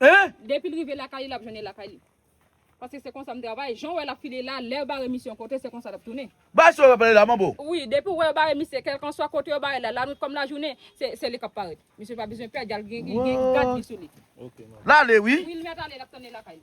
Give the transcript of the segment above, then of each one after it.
Hein? Depil rive lakay li lap jwenn li lakay li. Paske se konsa m travay, jan w wè lap file la, lèw bare misye yon kote se konsa lap tounen. Bagay sa yo wap pale la manbo. Wi depiw wè yo bare misye kelkanswa kote yo barel la lanwit kòm lajounen se li kap parèt misye pa bezwen pè djal gen gad li sou li. Lale wi. Wi li mèt ale lap tounen lakay li.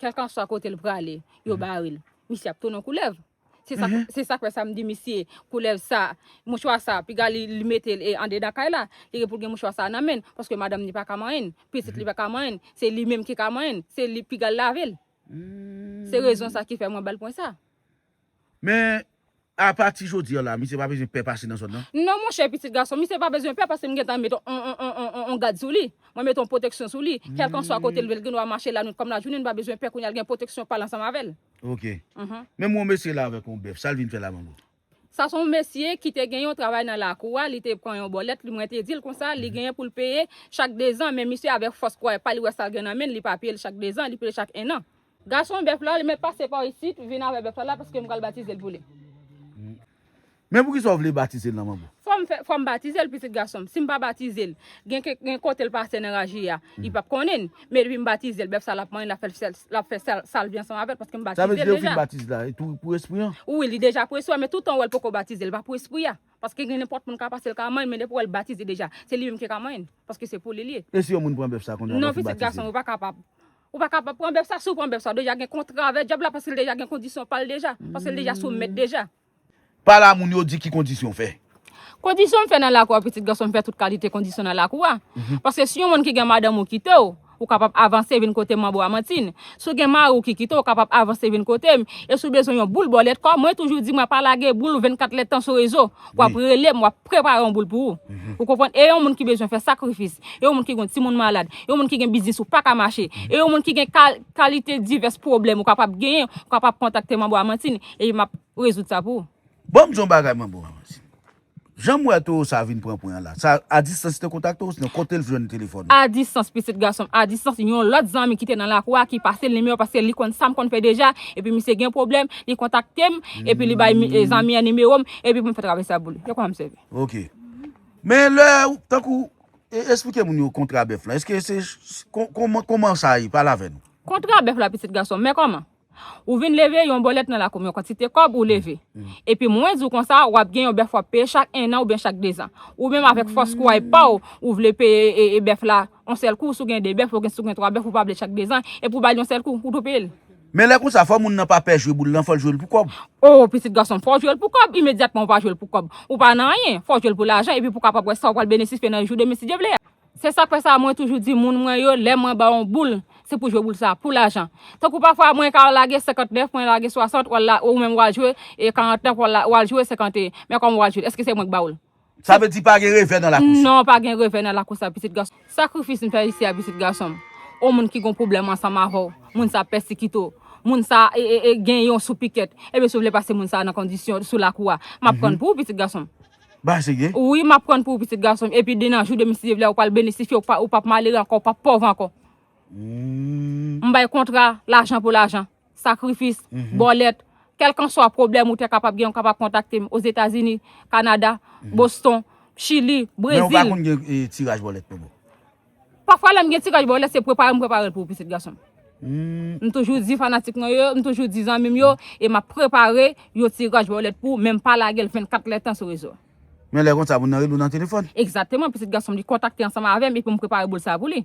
Kèlkanswa kote l prale, yo mhm. bare l. Misye ap tounen koulèv. Se sa mhm. se sak fè sa m di misye koulèv sa mouchwa sa piga li li mete l e an dedan kay la li gen pou l gen mouchwa sa nan men paske madanm ni pa ka manyen l pitit li mhm. pa ka manyen l se li menm ki ka manyen l se li piga l lave l se rezon sa ki fè mwen bal pwen sa Men, apa ti jodi an la, misye pa bezwen pè pase nan zòn nan? Non monchè pitit gason, misye pa bezwen pè paske m gen tan met on gad sou li. Mwen met on pwoteksyon sou li. Kèlkanswa kote l dwe l gen dwa mache lanwit kòm lajounen, m pa bezwen pè kounye a l gen pwoteksyon pa l ansanm avè l. Ok. Men m wè on mesye la avèk on bèf, sa l vin fè la manbo? Sa s on mesye ki te gen yon travay nan lakou a, li te pran yon bòlèt, mwen te di l konsa, li genyen pou l peye chak dezan, men misye avèk fòs kouray pa l, li wè sa l gen nan men l, li pa peye l chak dezan, li peye l chak ennan. Gason bèf la li mèt pase pa w isit vin avè bèf la la paske m pral batize l pou li. Men poukisa w vle batize l nan manbo? Fò m fè, fò m batize l pitit gason m. Si m pa batize l, gen kèk, gen kote l pase nan raje a, li p ap konnen. Men depi m batize l, bèf sa l ap manyen, l ap fè, l ap fè sa, sa l vle ansanm avè l paske m batize l deja. Sa vle di lè ou fin batize l la, li tou pou espri an? Wi, li deja pou espri an men toutan ou wè l poko batize, li pa pou espri a. Paske gen nenpòt moun ka pase l ka manyen men depi ou wè l batize deja, se li menm ki ka manyen paske se pou li l ye. E si yon moun pran bèf sa kounye a lè w fin batize l? Non pitit gason m, ou pa kapab. Ou pa kapab pran bèf sa, si ou pran bèf sa ou deja gen kontra avè djab la paske li deja gen kondisyon pal deja, paske li deja sou mèt deja. Pa la moun yo di ki kondisyon w fè. Kondisyon m fè nan lakou a pitit gason m fè tout kalite kondisyon nan lakou a, paske si yon moun ki gen madanm ou kite w, ou kapab avanse vin kote m manbo Amantinn, si w gen mari w ki kite w, ou kapab avanse vin kote m, e si w bezwen yon boul bòlèt kò, mwen toujou di mwen pa lage boul 24 lèdtan sou rezo. w ap rele m, w ap prepare yon boul pou ou. Ou konprann? E yon moun ki bezwen fè sakrifis, e yon moun ki gen yon timoun malad, e yon moun ki gen biznis ou pa ka mache, e yon moun ki gen kalite divès pwoblèm ou kapab genyen, ou kapab kontakte Manbo Amantine, epi m ap rezoud sa pou ou. Bon m di w yon bagay Manbo Amantine. Jan m wè towo sa vin pran pwen an la, sa a distans li te kontakte w osnon kote l jwenn telefòn ou? A distans pitit gason m, a distans. Yon lòt zanmi ki te nan lakou a ki pase l nimewo a paske li konn sa m konn fè deja, epi misye gen pwoblèm, li kontakte m, epi li bay zanmi an nimewo m, Epi pou m fè travay sa pou li. Yo konn ap sèvi. Ok. Men lè, tankou, esplike moun yo kontra bèf la. Eske se, kouman sa ye? Pale avè nou. Kontra bèf la pitit gason m. Men kouman? Ou vin leve yon bòlèt nan lakou m, yon kantite kòb ou leve. Epi mwen di w konsa, w ap gen yon bèf w ap peye chak ennan oubyen chak dezan. Ou menm avèk fòs kouray pa w, ou vle peye bèf la yon sèl kou. Si w gen de bèf, si w gen twa bèf, ou pa vle chak dezan. Epi ou ba l yon sèl kou. Ou tou peye l. Men lè konsa fò moun nan pa pè jwe boul lan fòl jwel pou kòb. Oh pitit gason m fòw jwel pou kòb imedyatman ou pa jwel pou kòb ou pa nan anyen fòw jwel pou lajan epi pou kapab wè sa ou pral benesifye nan jou demen si Dye vle a. Se sak fè sa mwen toujou di moun mwen yo lè mwen baw yon boul se pou jwe boul sa pou lajan tankou pafwa mwen ka lage 59 mwen lage 60 wal la ou menm wal jwe 49 wal jwe 51 men kòman wal jwel eske se mwen k bawoul. Sa vle di pa gen revè nan lakou sa. Non, pa gen revè nan lakou sa, pitit gason m. Sakrifis m fè isi a, pitit gason m. O moun ki gen yon pwoblèm ansanm avè w, moun sa a pèsikite w, moun sa a gen yon sou pikèt, ebyen si w vle pase moun sa a nan kondisyon sou lakou a, m ap pran pou ou, pitit gason m. Ba sègè. Wi, m ap pran pou ou, pitit gason m, epi de nan jou demen si Dye vle a ou pral benisifye, ou p ap malere ankò, ou p ap pòv ankò. M bay kontra lajan pou lajan. sakrifis, bòlèt, kèlkanswa pwoblèm ou te kapab gen ou kapab kontakte m Ozetazini, Kanada, Boston, Chili, Brezil. Men ou pa konn gen tiraj bòlèt pou mwen? Pafwa lè m gen tiraj bòlèt se prepare m prepare l pou ou pitit gason m. M toujou di fanatik mwen yo, m toujou di zanmi m yo e m ap prepare yon tiraj bòlèt pou ou men m pa lage l 24 lè tan sou rezo. Men lè konsa moun nan rele ou nan telefòn? Egzateman pitit gason m li kontakte ansanm avè m epi m prepare boul sa pou li.